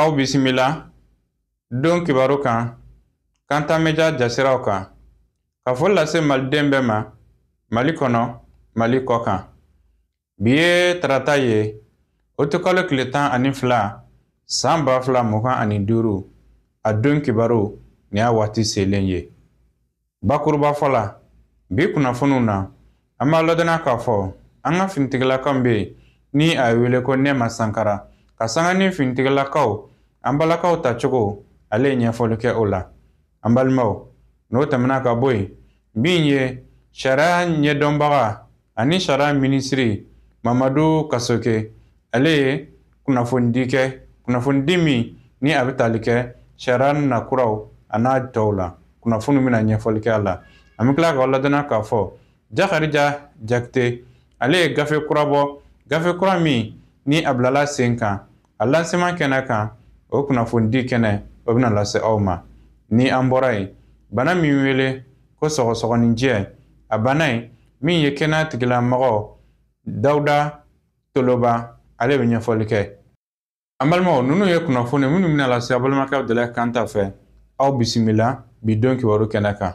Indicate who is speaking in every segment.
Speaker 1: aw bisimila don kibaru kan kanta media jasiraw kan ka foli lase maliden bɛɛ ma mali kɔnɔ mali kɔkan bi ye tarata ye uti kalo tile tan ani fila san ba fila mugan ani duuru a don kibaru nin y'a waati selen ye Bakurubafɔ la bi kunnafoniw na an b'a ladɔnniya k'a fɔ an ka finitigilakaw bɛ yen ni a ye wele ko nɛma sankara ka sanga ni finitigilakaw an balakaw ta cogo ale ye ɲɛfɔli kɛ o la an balimaw n'o tɛmɛna ka bɔ yen min ye sariya ɲɛdɔnbaga ani sariya minisiri mamadu kasoge ale ye kunnafonidi kɛ kunnafonidi min ni a bɛ tali kɛ sariya nakuraw a n'a tɔw la kunnafoni bɛna ɲɛfɔli kɛ a la an bɛ tila ka ladɔnniya k'a fɔ jakarija jakite ale ye gafe kura bɔ gafe kura min ni a bilala sen kan a lancement kɛnɛ kan o kunnafonidi kɛnɛ o bɛna lase aw ma ni an bɔra yen bana min wele ko sɔgɔsɔgɔninjɛ a bana in min ye kɛnɛya tigilamɔgɔ dawuda toloba ale bɛ ɲɛfɔli kɛ an balimaw ninnu ye kunnafoni minnu bɛna lase aw balimakɛ dɛlɛ kanta fɛ aw bisimila bi don kibaru kɛnɛ kan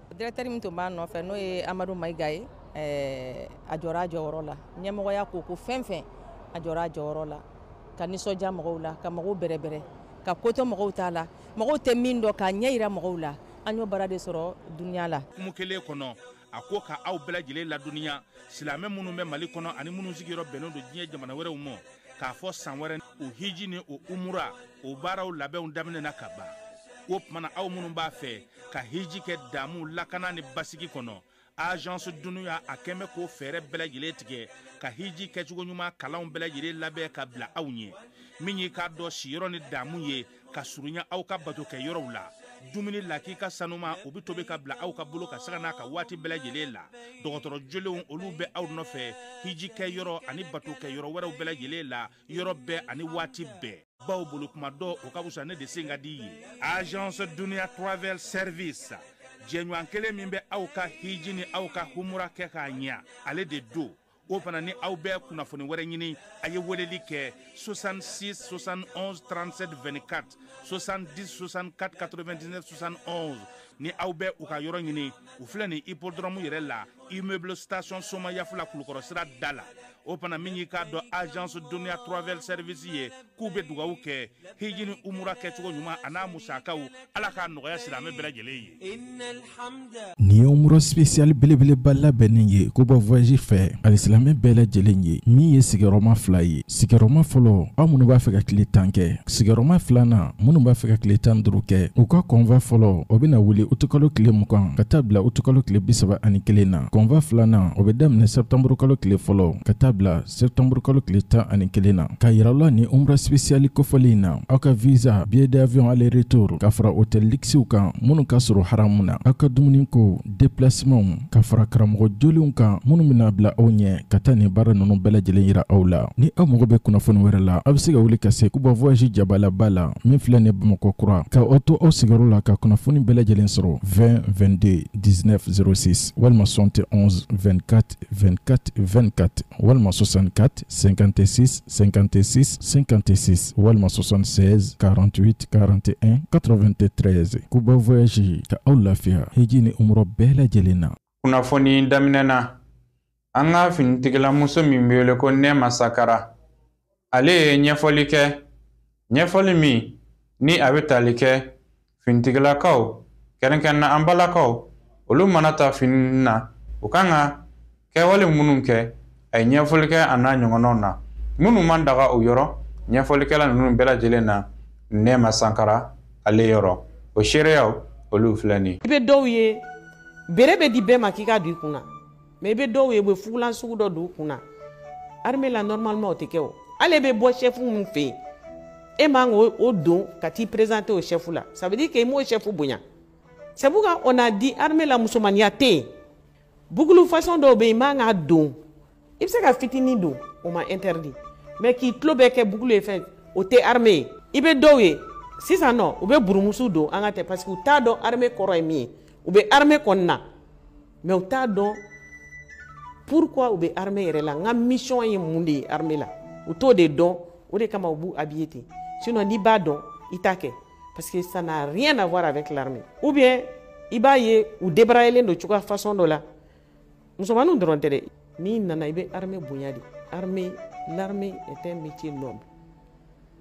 Speaker 2: Directeur min tun b'a nɔfɛ n'o ye amadu mayiga ye a jɔra a jɔyɔrɔ la ɲɛmɔgɔya ko ko fɛn fɛn a jɔra a jɔyɔrɔ la ka nisɔndiya mɔgɔw la ka mɔgɔw bɛrɛbɛrɛ ka ko to mɔgɔw ta la mɔgɔw tɛ min dɔn k'a ɲɛjira mɔgɔw la an y'o baara de sɔrɔ duniya la kuma kelen
Speaker 3: kɔnɔ a ko ka aw bɛɛ lajɛlen ladɔnniya silamɛ minnu bɛ mali kɔnɔ ani minnu sigiyɔrɔ bɛnnen don diɲɛ jamana wɛrɛw ma k'a fɔ san wɛrɛ o hiji ni o umura o baaraw labɛnw daminɛna kaban o tuma na aw minnu b'a fɛ ka hiji kɛ damu lakana ni basigi kɔnɔ agence dunia a kɛmɛ k'o fɛɛrɛ bɛɛ lajɛlen tigɛ ka hiji kɛcogo ɲuman kalanw bɛɛ lajɛlen labɛn ka bila aw ɲɛ min ye k'a dɔn siyɔrɔ ni damu ye ka surunya aw ka bato kɛ yɔrɔw la dumuni lakika sanuman o bɛ tobi ka bila aw ka bolo kan sanga n'a ka waati bɛɛ lajɛlen la dɔgɔtɔrɔ jolenw olu bɛ aw nɔfɛ hiji kɛ yɔrɔ ani bato kɛ yɔrɔ wɛrɛw bɛɛ lajɛlen la yɔrɔ bɛɛ ani waati bɛɛ baw bolo kuma dɔn o ka wusa ne de sen ka di ye agence dunia travel service jɛɲɔgɔn kelen min bɛ aw ka hiji ni aw ka humura kɛ k'a ɲɛ ale de don o fana ni aw bɛ kunnafoni wɛrɛ ɲini a ye weleli kɛ 66 71 37 24 70 64 99 71 ni aw bɛ u ka yɔrɔ ɲini u filɛ nin hippodrome yɛrɛ la immeuble station somayaf la kulukɔrɔ sira da la o fana min y'i k'a dɔn agence duniya travel service ye k'u bɛ dugawu kɛ hiji ni umura kɛcogo ɲuman a n'a musakaw ala k'a nɔgɔya silamɛ bɛɛ lajɛlen ye
Speaker 4: nin ye umura spesiyali belebeleba labɛnnin ye kuba voyage fɛ alisilamɛ bɛɛ lajɛlen ye min ye sigiyɔrɔma fila ye sigiyɔrɔma fɔlɔ aw minnu b'a fɛ ka tile tan kɛ sigiyɔrɔma filanan minnu b'a fɛ ka tile tan duuru kɛ u ka convoi fɔlɔ o bɛna wuli utukalo tile mugan ka taa bila utukalo tile bisaba ani kelen na convoi filanan o bɛ daminɛ sɛptanburukalo tile fɔlɔ ka taa bila sɛptanburukalo tile tan ani kelen na k'a yira la nin umra spesiyali kofɔli in na aw ka visa billet d'avion aller retour ka fara hôtel luxew kan minnu ka surun haramu na aw ka dumuni ko déplacement ka fara karamɔgɔ jolenw kan minnu bɛna bila aw ɲɛ ka taa nin baara ninnu bɛɛ lajɛlen yira aw la ni aw mago bɛ kunnafoni wɛrɛ la aw bɛ se ka wuli ka se kuba voyage jabalaba la min filɛ nin bamakɔ kura ka aw to aw sigiyɔrɔ la ka kunnafoni bɛɛ lajɛlen sɔrɔ 20 22 19 06 walima 71 24 24 24 walima 64 56 56 56 walima 76 48 41 93 kuba voyage ka aw lafiya hiji ni umra bɛɛ lajɛlen na kunnafoni
Speaker 1: daminɛ na an ka finitigilamuso min bɛ wele ko nɛɛma sagara ale ye ɲɛfɔli kɛ ɲɛfɔli min ni a bɛ tali kɛ finitigilakaw kɛrɛnkɛrɛnna an balakaw olu mana taa fini na u kan ka kɛwale minnu kɛ a ye ɲɛfɔli kɛ a n'a ɲɔgɔnnaw na minnu man daga o yɔrɔ ɲɛfɔli kɛla ninnu bɛɛ lajɛlen na nɛɛma sagara ale yɔrɔ o seereyaw olu filɛ nin i bɛ dɔw ye
Speaker 5: béret bɛ di bɛɛ ma k'i ka don i kun na mais i bɛ dɔw ye u bɛ fugulan sugu dɔ don u kun na armée la normalement o tɛ kɛ o hali e bɛ bɔ chef min fɛ yen e man k'o don ka t'i présenter o chef la ça veut dire que i m'o chef bonya c'est pourquoi on a dit armée la musomaniya tɛ yen boucle façon dɔw bɛ yen i man k'a don i bɛ se ka fitinin don o ma interdit mais k'i tulo bɛɛ kɛ boucle ye fɛn o tɛ armée ye i bɛ dɔw ye sisan nɔ u bɛ burumusu don an ka tɛ parce que u t'a dɔn armée kɔrɔ ye min ye u bɛ armée kɔni na mais u t'a dɔn pourquoi u bɛ armée yɛrɛ la n ka mission ye mun de ye armée la u t'o de dɔn o de kama u b'u habiller ten sinon n'i b'a dɔn i t'a kɛ parce que ça n'a rien à voir avec l'armée ou bien i b'a ye u débraillélen don cogoya façon dɔ la musomaninw dɔrɔn tɛ dɛ n'i nana i bɛ armée bonya de armée l'armée est un métier noble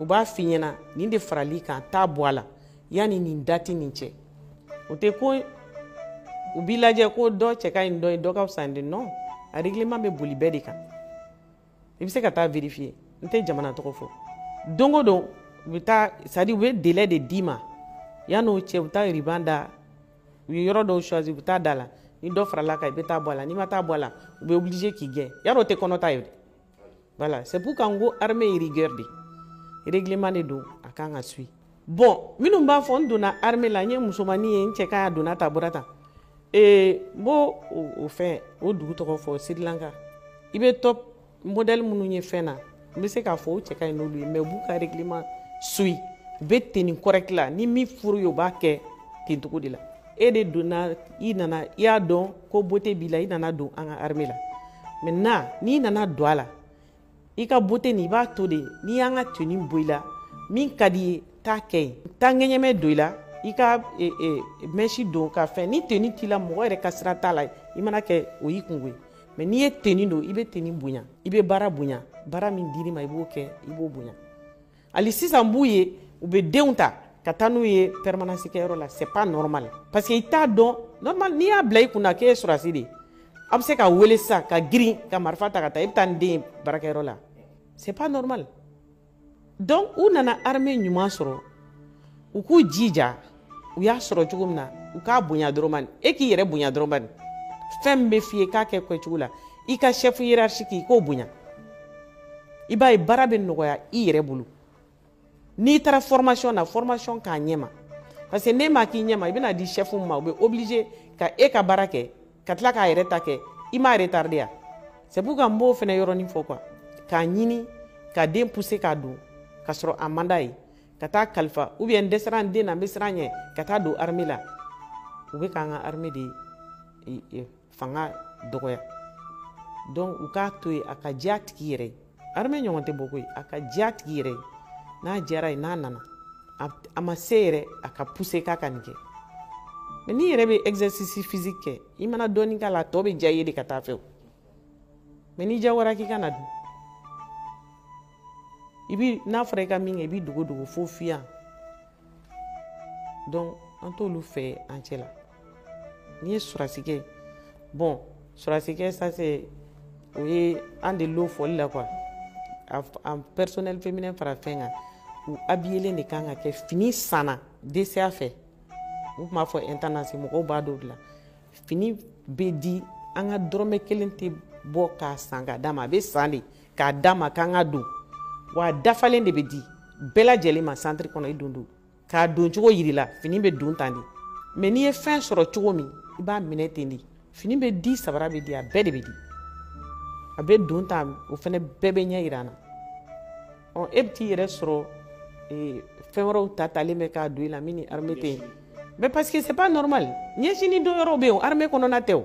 Speaker 5: u b'a f'i ɲɛna nin de faral'i kan t'a bɔ a la yanni nin date nin cɛ o tɛ ko u b'i lajɛ ko dɔ cɛ ka ɲi dɔ ye dɔ ka fisa de non a règlement bɛ boli bɛɛ de kan i bɛ se ka taa vérifier n tɛ jamana tɔgɔ fɔ don o don u bɛ taa c'est à dire u bɛ délai de d'i ma yan'o cɛ u bɛ taa ruban da u ye yɔrɔ dɔw choisir u bɛ taa da la ni dɔ farala kan i bɛ taa bɔ a la n'i ma taa bɔ a la u bɛ obligé k'i gɛn yarɔ o tɛ kɔnɔta ye dɛ Voilà, c'est pourquoi n ko, armée ye rigueur de. Règlement de don, a kan ka suit. Bon, minnu b'a fɔ n donna armée la n ye musomanni ye n cɛ ka ɲi a donna ta bɔra tan ee n b'o o fɛn o dugu tɔgɔ fɔ Sri Lanka i bɛ top modèle minnu ye fɛn na n bɛ se k'a fɔ o cɛ ka ɲi n'olu ye mais u b'u ka règlement suit u bɛ tenue correct la ni min furu ye o b'a kɛ ten cogo de la e de donna i nana i y'a dɔn ko beauté b'i la i nana don an ka armée la maintenant n'i nana don a la i ka beauté nin i b'a to de n'i y'an ka tenue bɔ i la min ka d'i ye t'a kɛ yen taa ŋɛɲɛmɛ don i la i ka e, e, mèche don ka fɛn ni tenue t'i la mɔgɔ yɛrɛ ka sira t'a la i mana kɛ o y'i kunko ye mais n'i ye tenue don i bɛ tenue bonya i bɛ baara bonya baara min dir'i ma i b'o kɛ i b'o bonya hali sisan b'u ye u bɛ denw ta ka taa n'u ye permanence kɛyɔrɔ la c'est pas normal parce que i t'a dɔn normal n'i y'a bila i kunna k'e ye sɔrɔdasi de ye a bɛ se ka wele sisan ka girin ka marifa ta ka taa i bɛ taa ni den ye baarakɛyɔrɔ la c'est pas normal donc u nana armée ɲuman sɔrɔ u k'u jija u y'a sɔrɔ cogo min na u k'a bonya dɔrɔn bani e k'i yɛrɛ bonya dɔrɔn bani fɛn min bɛ f'i ye k'a kɛ kɛcogo la i ka chef hiérarchique i k'o bonya i b'a ye baara bɛ nɔgɔya i yɛrɛ bolo n'i taara formation na formation k'a ɲɛma parce que n'e m'a kɛ ɲɛma i bɛna di chef ma u bɛ obligé ka e ka baara kɛ ka tila k'a yɛrɛ ta kɛ i m'a retardé ya c'est pourquoi n b'o fana yɔrɔnin fɔ quoi k'a ɲini ka den pousser k'a don ka sɔrɔ a man d'a ye ka taa kalifa ou bien n dɛsɛra n den na n bɛ siran ɲɛ ka taa don armée la u bɛ k'an ka armée de fanga dɔgɔya donc u k'a to yen a ka diya a tigi yɛrɛ ye armée ɲɔgɔn tɛ bɔ koyi a ka diya a tigi yɛrɛ ye n'a diyar'a ye n'a nana a ma se yɛrɛ a ka pousser k'a ka nin kɛ mais n'i yɛrɛ bɛ exercice physique kɛ i mana dɔɔnin k'a la a tɔ bɛ diya i ye de ka t'a fɛ o mais n'i diyagoyara k'i ka na don i bi n'a fɔra i ka min kɛ i b'i dogo dogo fo fiyan donc an t'olu fɛ an cɛ la n'i ye sɔrɔdasi kɛ bon sɔrɔdasi kɛ ça c'est o ye an de lo fɔli la quoi en personnel féminin fara fɛn kan u habillelen de kan k'a kɛ fini sanna DCA fɛ u tun b'a fɔ intendance mɔgɔw b'a dɔn o de la fini bɛ di an ka dɔrɔmɛ kelen tɛ bɔ k'a san k'a d'a ma a bɛ san de k'a d'a ma k'an ka don wa dafalen de bɛ di bɛɛ lajɛlen ma santiri kɔnɔ i don don k'a don cogo yir'i la fini bɛ don tan de mais n'i ye fɛn sɔrɔ cogo min i b'a minɛ ten de fini bɛ di sabara bɛ di a bɛɛ de bɛ di a bɛ don tan o fana bɛɛ bɛ ɲɛ yira an na ɔ e bɛ t'i yɛrɛ sɔrɔ ee, fɛn wɛrɛw ta talen bɛ k'a don i la min ni arme tɛ yen mais parce que c'est pas normal ɲɛsini don yɔrɔw bɛ yen o arme kɔnɔna tɛ o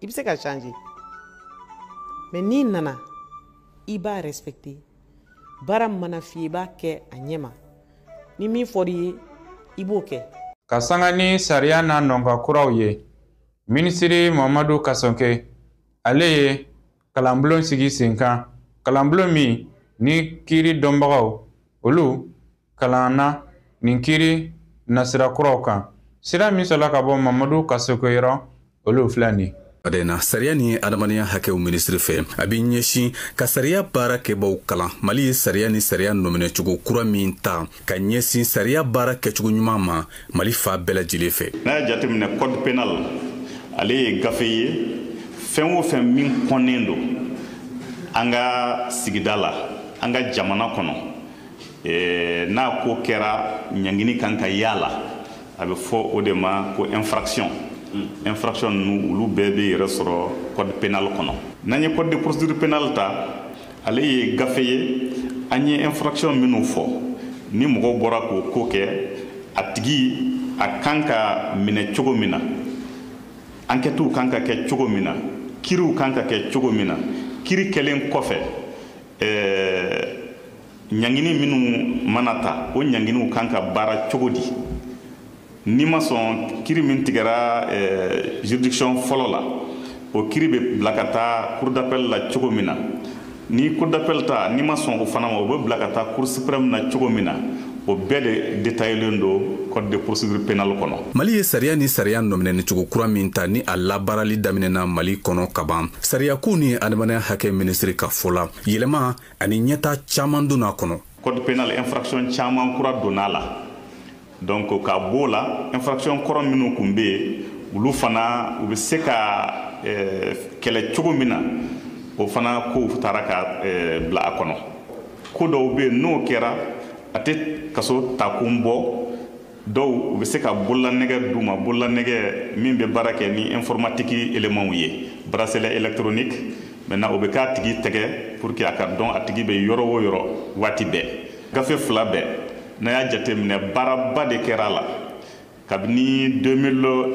Speaker 5: i bɛ se ka changer mais n'i nana i b'a respecter baara mana f'i ye i b'a kɛ a ɲɛ ma ni min fɔr'i ye i b'o kɛ ka sanga
Speaker 1: ni sariya n'a nɔnka kuraw ye minisiri mamadu kasɔnke ale ye kalanbulon sigi senkan kalanbulon min ni kiiri dɔnbagaw olu kalanna nin kiiri nasira kuraw kan sira min sɔrɔla ka bɔ mamadu kasɔge yɔrɔ olu filɛ nin Ada na sariya
Speaker 6: ni adamadenya hakɛw minisiri fɛ a bɛ ɲɛsin ka sariya baara kɛbaaw kalan mali ye sariya ni sariya nɔminɛcogo kura min ta ka ɲɛsin sariya baara kɛcogo ɲuman ma mali fan bɛɛ lajɛlen fɛ n'a y'a jateminɛ
Speaker 7: code pénal ale ye gafe ye fɛn o fɛn min kɔnnen don an ka sigida la an ka jamana kɔnɔ eh, n'a ko kɛra ɲangini kan ka y'a la a bɛ fɔ o de ma ko infraction hmm. infraction ninnu olu bɛɛ bɛ yɛrɛ sɔrɔ code pénal kɔnɔ n'an ye code de procédure pénale ta ale ye gafe ye an ye infraction minnu fɔ ni mɔgɔw bɔra k'o ko kɛ a tigi a kan ka minɛ cogo min na ankɛtiw kan ka kɛ cogo min na kiriw kan ka kɛ cogo min na kiri kɛlen kɔfɛ ɲangini minnu mana ta o ɲanginiw kan ka baara cogo di n'i ma sɔn kiri min tigɛra eh, juridiction fɔlɔ la o kiri bɛ bila ka taa cour d'appel la cogo min na ni cour d'appel ta n'i ma sɔn o fana ma o bɛ bila ka taa cour suprême na cogo min na o bɛɛ de detayelen don code de procédure pénale kɔnɔ mali ye sariya ni sariya
Speaker 6: nɔminɛnicogo kura min ta ni a labaarali daminɛna mali kɔnɔ ka ban sariyakow ni adamadenya hakɛ minisiri ka fɔ la yɛlɛma ani ɲɛta caaman donna a kɔnɔ code pénal infraction
Speaker 7: caaman kura donna a la donc ka b'o la infraction kɔrɔ minnu kun bɛ yen olu fana u bɛ se ka eh, kɛlɛ cogo min na o fana kow tara ka eh, bila a kɔnɔ ko dɔw bɛ yen n'o kɛra a tɛ kaso taakun bɔ dɔw u bɛ se ka bololanɛgɛ d'u ma bololanɛgɛ min bɛ baara kɛ ni informatiki elemanw ye bracelet électronique maintenant o bɛ k'a tigi tɛgɛ pour que a ka dɔn a tigi bɛ yɔrɔ o yɔrɔ waati bɛɛ gafe fila bɛɛ n'a y'a jateminɛ baaraba de kɛra a la kabini 2001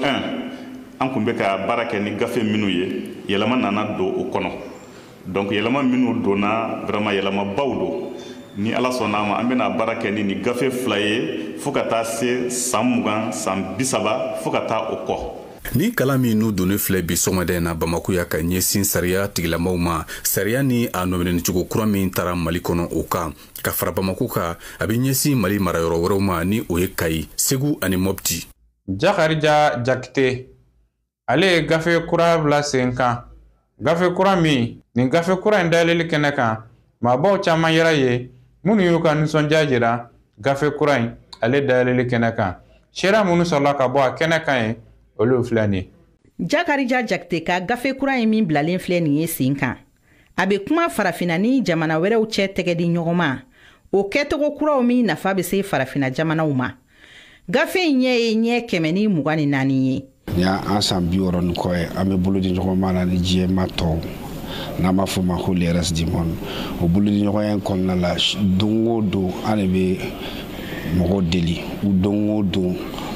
Speaker 7: an kun bɛ ka baara kɛ ni gafe minnu ye yɛlɛma nana don o kɔnɔ donc yɛlɛma minnu donna vraiment yɛlɛmabaw don ni ala sɔnna ma an bɛna baara kɛ ni nin gafe fila ye fo ka taa se san mugan san bisaba fo ka taa o kɔ Ni kalan min n'u
Speaker 6: donnen filɛ bi sɔgɔmada in na bamako yan ka ɲɛsin sariya tigilamaw ma sariya ni a nɔminɛnicogo kura min tara mali kɔnɔ o kan ka fara bamako kan a bɛ ɲɛsin mali marayɔrɔ wɛrɛw ma ni o ye kayi segu ani mɔpti
Speaker 1: jakarija jakite ale ye gafe kura bila sen kan gafe kura min nin gafe kura in dayɛlɛli kɛnɛ kan maabaw caman yera yen minnu y'u ka nisɔndiya jira gafe kura in ale dayɛlɛli kɛnɛ kan sira minnu sɔrɔla ka bɔ a kɛnɛ kan ye olu filɛ nin jakarija
Speaker 8: jakite ka gafe kura in min bilalen filɛ nin ye sen kan a bɛ kuma farafina ni jamana wɛrɛw cɛ tɛgɛ di ɲɔgɔnma o kɛcogo kuraw min nafa bɛ se farafina jamanaw ma gafe in ɲɛ ye ɲɛ kɛmɛ ni mugan ni naani ye ni an san
Speaker 9: bi wɔɔrɔ ni kɔ ye an bɛ bolo di ɲɔgɔnma na ni diɲɛmaa tɔw n'an b'a fɔ ma ko le reste du monde o bolo di ɲɔgɔnya in kɔnɔna la don o don an de bɛ mɔgɔw deli don o don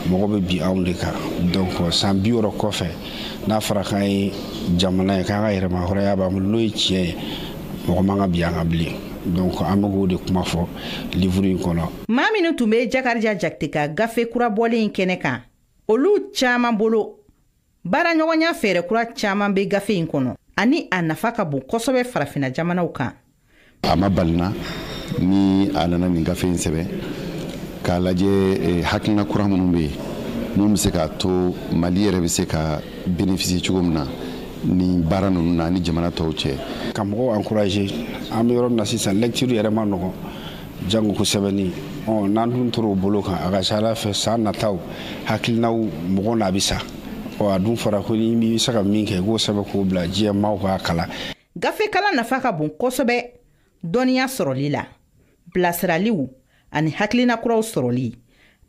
Speaker 9: mɔgɔ bɛ bin anw de kan donc san bi wɔɔrɔ kɔfɛ n'a fɔra k'an ye jamana ye k'an ka yɛrɛmahɔrɔnya b'an bolo n'o ye tiɲɛ ye mɔgɔ man ka bin an kan bilen donc an bɛ k'o de kuma fɔ livuru in kɔnɔ maa minnu tun bɛ
Speaker 8: jakarija jakite ka gafe kura bɔlen in kɛnɛ kan olu caman bolo baaraɲɔgɔnya fɛɛrɛ kura caman bɛ gafe in kɔnɔ ani a nafa ka bon kosɛbɛ farafina jamanaw kan a ma bali
Speaker 10: n na ni a nana nin gafe in sɛbɛn k'a lajɛ eh, hakilina kura minnu bɛ yen mun bɛ se k'a to mali yɛrɛ bɛ se ka bénéficier cogo min na nin baara ninnu na ni jamana tɔw cɛ ka mɔgɔw
Speaker 9: encourager an bɛ yɔrɔ min na sisan lecture yɛrɛ man nɔgɔn jango ko sɛbɛnni ɔ n'an dun tor'o bolo kan a ka ca a la fɛ san nataw hakilinaw mɔgɔ n'a bɛ sa ɔ a dun fɔra ko n'i bɛ se ka min kɛ i k'o sɛbɛn k'o bila diɲɛ maaw k'a kalan
Speaker 8: gafekalan nafa ka bon kosɛbɛ dɔnniya sɔrɔli la bilasiraliw ani hakilina kuraw sɔrɔli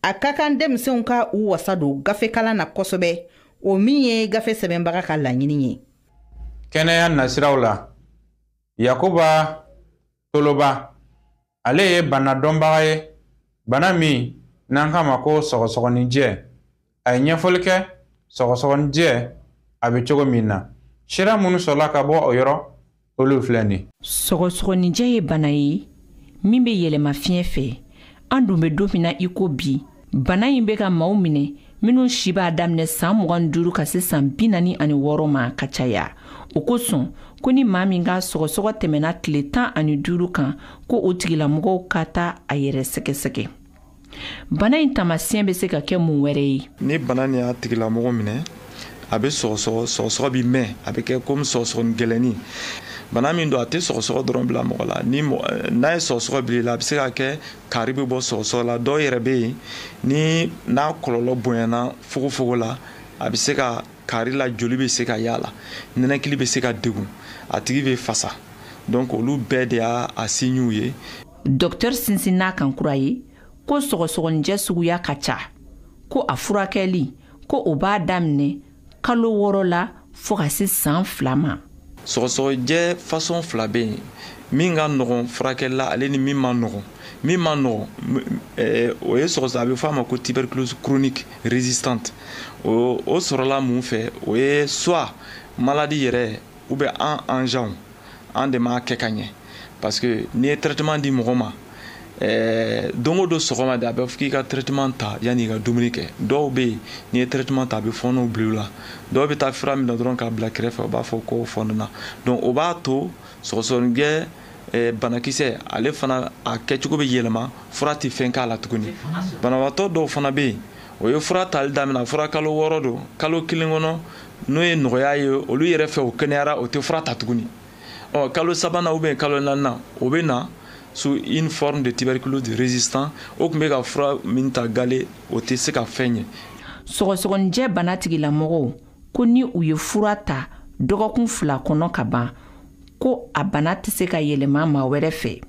Speaker 8: a ka kan denmisɛnw ka u wasa don gafekalan na kosɛbɛ o min ye gafe sɛbɛnbaga ka laɲini ye
Speaker 1: kɛnɛya nasiraw la yakuba toloba ale ye bana dɔnbaga ye bana min n'an k'a ma ko sɔgɔsɔgɔninjɛ a ye ɲɛfɔli kɛ sɔgɔsɔgɔninjɛ a bɛ cogo min na sira minnu sɔrɔla ka bɔ o yɔrɔ olu filɛ nin sɔgɔsɔgɔninjɛ ye
Speaker 11: bana ye min bɛ yɛlɛma fiɲɛ fɛ an dun bɛ don min na i ko bi bana in bɛ ka maaw minɛ minnu si b'a daminɛ saan mugan duuru ka se saan bi naani ani wɔɔrɔ ma ka caya o kosɔn ko ni maa min ka sɔgɔsɔgɔ tɛmɛna tile tan ani duuru kan ko o tigilamɔgɔw ka taa a yɛrɛ sɛgɛsɛgɛ bana in tamasiyɛn bɛ se ka kɛ mun wɛrɛ ye ni bana nin y'a
Speaker 12: tigilamɔgɔ minɛ a bɛ sɔgɔsɔgɔ sɔgɔsɔgɔ bɛ mɛn a bɛ kɛ komi sɔgɔsɔgɔni gɛlɛnni bana min don a tɛ sɔgɔsɔgɔ dɔrɔn bila mɔgɔ la ni n'a ye sɔgɔsɔgɔ bil'i la a bɛ se ka kɛ kaari bɛ bɔ sɔgɔsɔgɔ la dɔw yɛrɛ bɛ yen ni n'a kɔlɔlɔ bonyana fogofogo la a bɛ se ka kaari la joli bɛ se ka y'a la nɛnɛkili bɛ se ka degun a tigi bɛ fasa donc olu bɛɛ de y'a a siɲiw ye
Speaker 11: dɔktɛri sinsinn'a kan kura ye ko sɔgɔsɔgɔninjɛ suguya ka ca ko a furakɛli ko o b'a daminɛ kalo wɔɔrɔ la fo ka se saan fila ma
Speaker 12: sɔgɔsɔgɔjɛ fasɔn fila bɛ yen min ka nɔgɔn furakɛli la ale ni min ma nɔgɔn min ma nɔgɔn eh, o ye sɔgɔsɔ a bɛ fɔ a ma ko tuberculose chronique résistante o sɔrɔla mun fɛ o ye soit maladi yɛrɛ ou bien an ajanw an de m'a kɛ ka ɲɛ parce que n'i ye traitement di mɔgɔ ma eh, don o don sɔgɔma de a bɛ fɔ k'i ka traitement ta yanni i ka dumuni kɛ dɔw bɛ yen n'i ye traitement ta a bɛ fɔɔnɔ bila u la dɔw bɛ taa fura minɛ dɔrɔn k'a bila kɛrɛfɛ u b'a fɔ k'o fɔɔnɔna donc o b'a to sɔgɔsɔgɔninjɛ eh, banakisɛ ale fana a kɛcogo bɛ yɛlɛma fura tɛ fɛn k'a la tuguni banabagatɔ dɔw fana bɛ yen o ye fura tali daminɛ fura kalo wɔɔrɔ don kalo kelen kɔnɔ n'o ye nɔgɔya ye olu yɛrɛ fɛ u kɛnɛyara o tɛ fura ta tuguni ɔ kalo sabanan ou bien kalo naaninan o bɛ na sous une forme de tuberculose de résistant o tun bɛ ka fura min ta galen o tɛ se ka fɛn ɲɛ
Speaker 11: sɔgɔsɔgɔninjɛ bana tigilamɔgɔw ko ni u ye fura ta dɔgɔkun fila kɔnɔ ka ban ko a bana tɛ se ka yɛlɛma maa wɛrɛ fɛ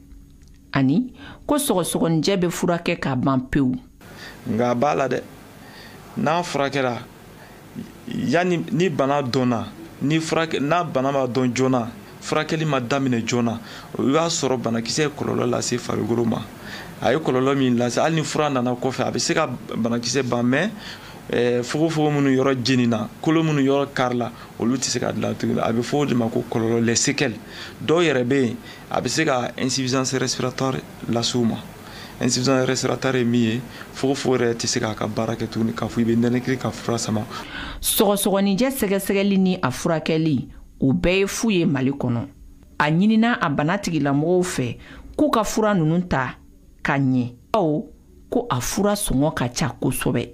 Speaker 11: ani ko sɔgɔsɔgɔninjɛ bɛ furakɛ ka ban pewu nka a
Speaker 12: b'a la dɛ n'a furakɛra yanni ni bana dɔnna ni furakɛ n'a bana ma dɔn joona furakɛli ma daminɛ joona i b'a sɔrɔ banakisɛ ye kɔlɔlɔ lase farikolo ma a ye kɔlɔlɔ min lase hali ni fura nana kɔfɛ a bɛ se ka banakisɛ ban mais eh, fogofogo minnu yɔrɔ jenina kolo minnu yɔrɔ karila olu tɛ se ka dilan tuguni a bɛ fɔ o de ma ko kɔlɔlɔ les séquelles dɔw yɛrɛ bɛ yen a bɛ se ka insuffisance respiratoire lase u ma insuffisance respiratoire ye min ye fogofogo yɛrɛ tɛ se k'a ka baara kɛ tuguni k'a fɔ i bɛ nɛnɛkili ka fura sama sɔgɔsɔgɔninjɛ
Speaker 11: sɛgɛsɛgɛli ni a furakɛli o bɛɛ ye fu ye mali kɔnɔ a ɲinina a bana tigilamɔgɔw fɛ k'u ka fura ninnu ta ka ɲɛ bawo ko a fura sɔngɔ ka ca kosɛbɛ